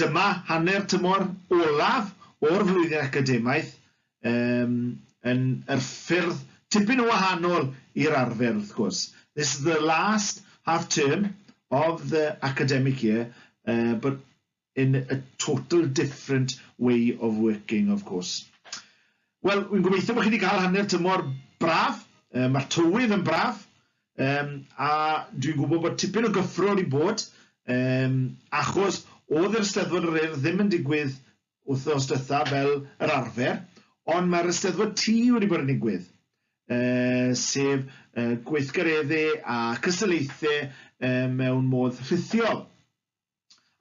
Dyma hanner tymor olaf o'r flwyddyn academaidd yym yn yr ffyrdd tipyn yn wahanol i'r arfer wrth gwrs. This is the last half term of the academic year uh, but in a total different way of working of course. Wel, wi'n gobeithio bod chi wedi cael hanner tymor braf, uh, mae'r tywydd yn braf, Yym, a dwi'n gwybod bod tipyn o gyffro wedi bod, yym, achos oedd yr Eisteddfod yr Urdd ddim yn digwydd wythnos dytha fel yr arfer, ond mae'r Eisteddfod Tŷ wedi bod yn digwydd, uh, sef uh, gweithgaredde a cystadlaethau uh, mewn modd rhithiol.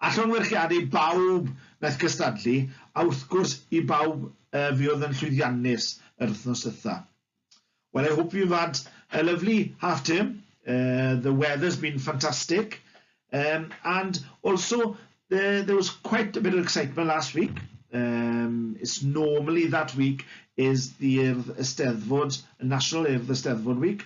a llongyfarchiadu bawb wnaeth gystadlu, a wrth gwrs i bawb yy fi oedd yn llwyddiannus yr wthnos dwytha. Well I hope you've had a lovely half term, uh, the weather's been fantastic, um, and also there, there was quite a bit of excitement last week, um, it's normally that week is the Urdd Ysteddfod, National Urdd Ysteddfod Week,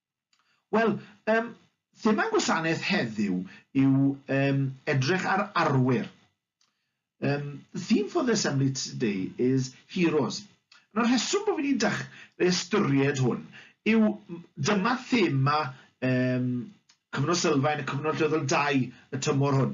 Wel, um, thema'n gwasanaeth heddiw yw um, edrych ar arwyr. Um, the theme for the assembly today is heroes. Yn y rheswm bod fi wedi dechrau ystyried hwn yw dyma thema um, Cyfnod Sylfaen y Cyfnod Lleoddol 2 y tymor hwn.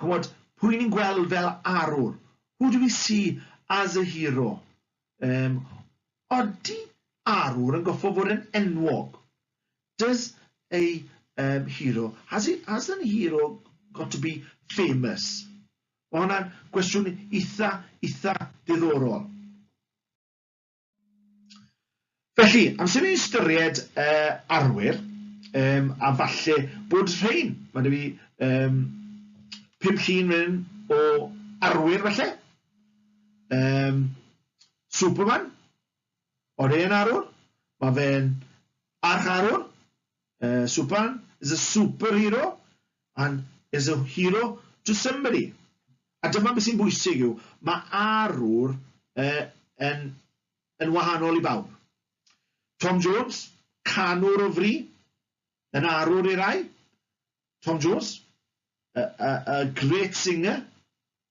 ch'mod, pwy ni'n gweld fel arwr? Who do we see as a hero? Um, odi arwr yn goffo fod yn enwog? Does a um, hero, has, he, has an hero got to be famous? Mae hwnna'n gwestiwn eitha, eitha diddorol. Felly, amser ni'n ystyried uh, arwyr, um, a falle bod rhain, mae dwi um, pum llun rhywun o arwyr falle, um, Superman, o'r hen arwr, mae fe'n arch arwr, Uh, Supan is a superhero and is a hero to somebody. A dyma beth sy'n bwysig yw, mae arwr uh, yn, yn wahanol i bawb. Tom Jones, canwr o fri, yn arwr i rai. Tom Jones, a, a, a great singer,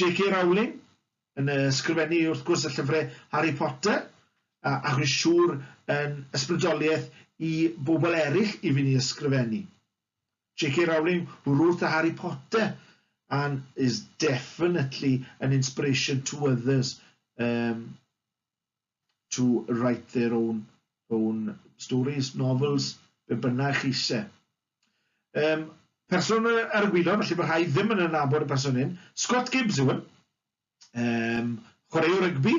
JK Rowling yn ysgrifennu wrth gwrs y llyfrau Harry Potter, a, ac rwy'n siŵr yn ysbrydoliaeth i bobl eraill i fynd i ysgrifennu. JK Rowling, who wrote the Harry Potter and is definitely an inspiration to others. Um, to write their own, own stories, novels, be bynnag chi eisiau. Um, person ar y gwylod, felly mae rhai ddim yn anabod y person hyn, Scott Gibbs yw hwn, um, chwaraew rygbi,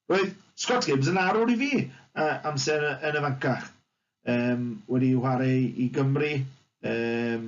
roedd Scott Gibbs yn arwr i fi uh, amser yn y fancach, um, wedi chwarae i Gymru, um,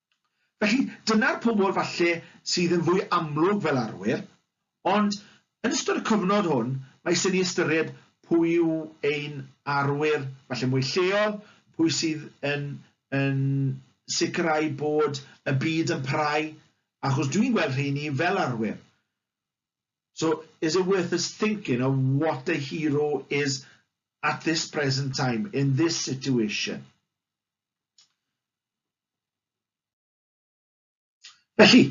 Felly, dyna'r pobl falle sydd yn fwy amlwg fel arwyr, ond yn ystod y cyfnod hwn, mae isie ni ystyried pwy yw ein arwyr falle mwy lleol, pwy sydd yn, yn sicrhau bod y byd yn parhau, achos dwi'n gweld rheini fel arwyr. So, is it worth us thinking of what a hero is at this present time, in this situation? Felly,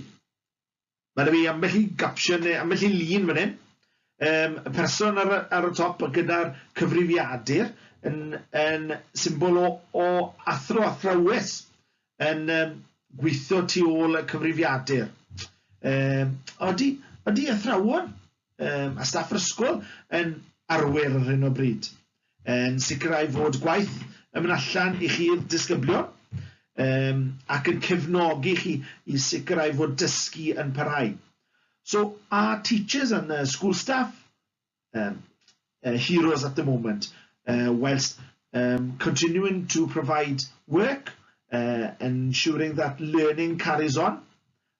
mae 'da fi ambell i gapsiwn neu ambell i lun fan hyn, um, y person ar, ar y top gyda'r cyfrifiadur yn, yn symbol o, o athro athrawes yn um, gweithio tu ôl y cyfrifiadur. Um, odi, odi athrawon um, a staff yr ysgol yn arwyr ar hyn o bryd? yn sicrhau fod gwaith yn mynd allan i chi'r disgyblion um, ac yn cefnogi chi i sicrhau fod dysgu yn parhau. So are teachers and uh, school staff um, uh, heroes at the moment uh, whilst um, continuing to provide work uh, ensuring that learning carries on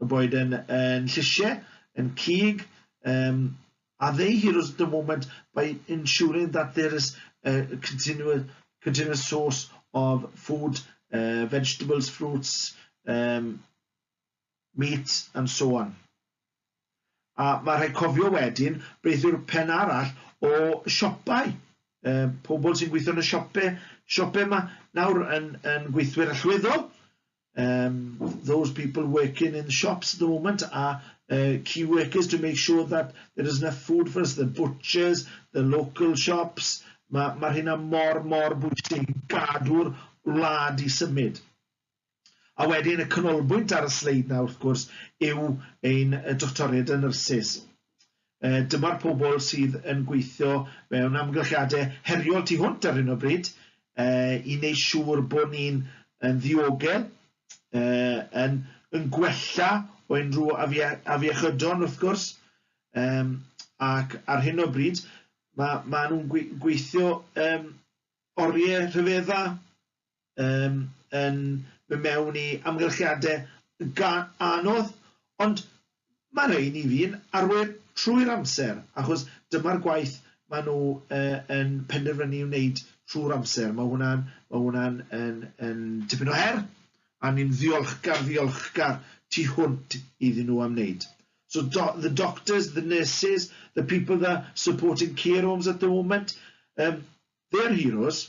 O boed yn yn llysie, yn cig, um, are they heroes at the moment by ensuring that there is a continuous, continuous source of food, uh, vegetables, fruits, um, meat and so on. A mae rhaid cofio wedyn beth yw'r pen arall o siopau. Uh, pobl sy'n gweithio yn y siopau, siopau yma nawr yn, yn gweithwyr allweddol, um, those people working in the shops at the moment are uh, key workers to make sure that there is enough food for us, the butchers, the local shops. Mae'r ma hynna mor, mor bwysig i gadw'r wlad i symud. A wedyn y canolbwynt ar y sleid na, wrth gwrs, yw ein doctoriaid yn nyrsys. Dyma'r pobl sydd yn gweithio mewn amgylchiadau heriol tu hwnt ar hyn o bryd i wneud siŵr bod ni'n yn ddiogel, yn yn gwella o unrhyw afiechydon wrth gwrs, yym ac ar hyn o bryd ma' ma' nhw'n gweithio yym oriau rhyfedda um, yn mynd mewn i amgylchiadau gan anodd, ond mae rhai ni fi'n arwyr trwy'r amser, achos dyma'r gwaith maen nhw uh, yn penderfynu i'w wneud trwy'r amser. Mae hwnna'n ma hwnna yn, yn tipyn o her, a ni'n ddiolchgar, ddiolchgar tu hwnt iddyn nhw am wneud. So do, the doctors, the nurses, the people that are supporting care homes at the moment, um, they're heroes,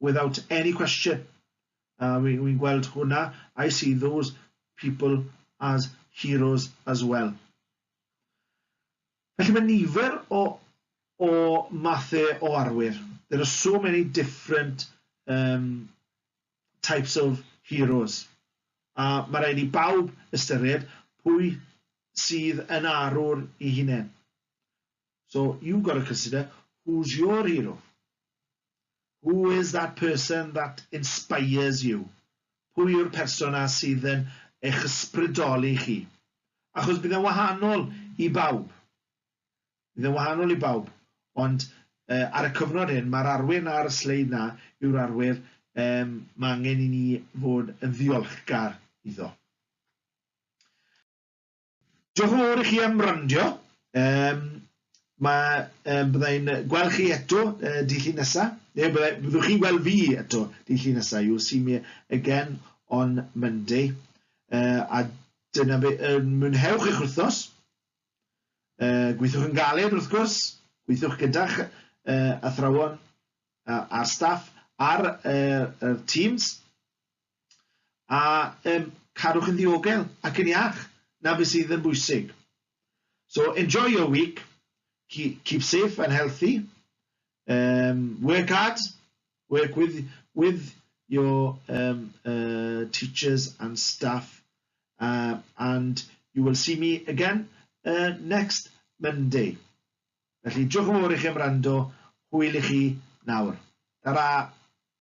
without any question. Uh, we, we gweld hwnna. I see those people as heroes as well. Felly mae nifer o, o mathau o arwyr. There are so many different um, types of heroes. A mae rhaid i bawb ystyried pwy sydd yn arwr i hunain. So you got to consider who's your hero? Who is that person that inspires you? Pwy yw'r person a sydd yn eich ysbrydoli chi? Achos bydd e'n wahanol i bawb. Bydd e'n wahanol i bawb. Ond uh, ar y cyfnod hyn, mae'r arwyr na ar y sleid na yw'r arwyr um, mae angen i ni fod yn ddiolchgar iddo. Diolch yn fawr i chi am wrando. Um, mae, um, byddai yn gweld chi eto uh, di llun nesa, neu byddai, byddwch chi weld fi eto di llun nesa. You'll see me again on Monday. Uh, a dyna be, uh, mwynhewch eich wythnos. Uh, gweithwch yn galed wrth gwrs, gweithwch gyda'ch uh, athrawon uh, a'r staff ar uh, er teams. A yym cadwch yn ddiogel ac yn iach, 'na be sydd yn bwysig. So enjoy your week, keep safe and healthy, um, work hard, work with, with your um, uh, teachers and staff, uh, and you will see me again uh, next Monday. Felly, diolch yn fawr i chi am rando, hwyl i chi nawr. Ta-ra!